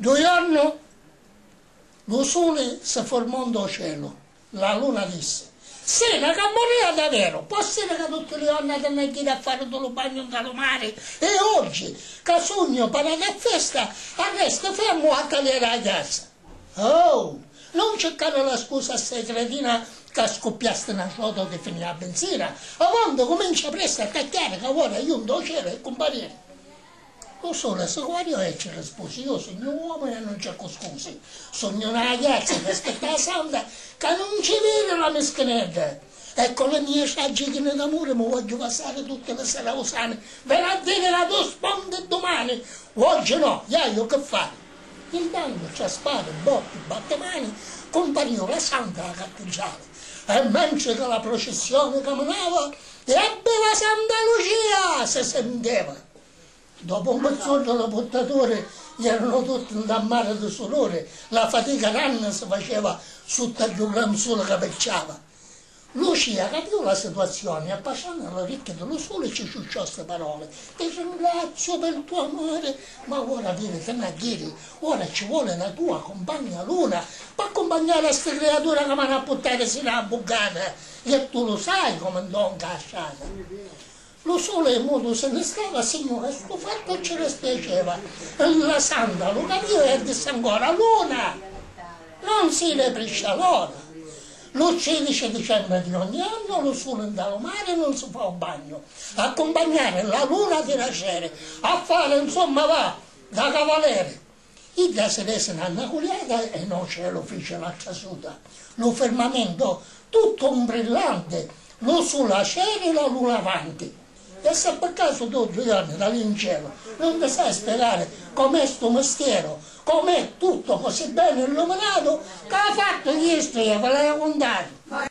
Ddu jornu lu suli si furmò ntô celu. La luna dissi, Sì, na cammunìa da veru! P'òssiri ca tutti li jorna ti nni jiri a fari ddu lu bagnu nta lu mari e oggi, ca sugnu parati a festa, arresti fermu a taliari a jasa? Oh! Nun circari la scusa a ssai cretina ca scuppiasti na ciota o ti finì a binzira! Avonti, cumincia presti a tacchiari ca ora iu ntô celu e cumpariri! U suli a su quali oi ci rispusi, Iu sugnu uomu e nun cercu scusi, sugnu na agliazza ca aspetta a santa ca nun ci viri la mischinedda e cu li mia ciaggi chini d'amuri mi vogghiu passari tutti li sera u sani, veni a diri ca tu spondi dumani, oggi no, iaiu chi fari? Intantu tra spari, botti, battimani, cumpariu la santa a la cattidrali e mentri ca la procissioni caminava, L'ebbi la Santa Lucia! si sinteva. Dopu un pizzuddu li purtaturi ieranu tutti nta mari di suduri, la fatica nanni si faceva sutta ddu gran suli ca picciava. Lucia capiu la situazioni e appasciannu li ricchi di lu suli ci ciucciò sti paroli, Ti ringraziu pi l'tu amuri, ma ora viri ti na ghiri, ora ci voli la tua cumpagna luna p'accumpagnari a sti criatura ca m'hanu a puttari sinu a la buggata. E tu lu sai comu ndonca a strata. Lu suli mutu si ni stava, Signuri, stu fattu ci dispiaceva, li lasandu a lu caviri e dissi ancora, Luna, non si depriscia l'ora. Lu tridici dicembri di ogni annu lu suli nta lu mari non si fa u bagnu, accumpagnari la luna di la seri, a fari, insomma, va da cavaleri. Idda si vesi na naculiata e no celu fici la trasuta, lu firmamento tuttu un brillanti, lu suli acerila lu lavanti. E se pi casu tu duiorni da li 'ncelu nun ti sai spiegari com'è stu mistieru, com'è tuttu così beni illuminatu ca ha fattu Iestria, vi l'haju cuntatu.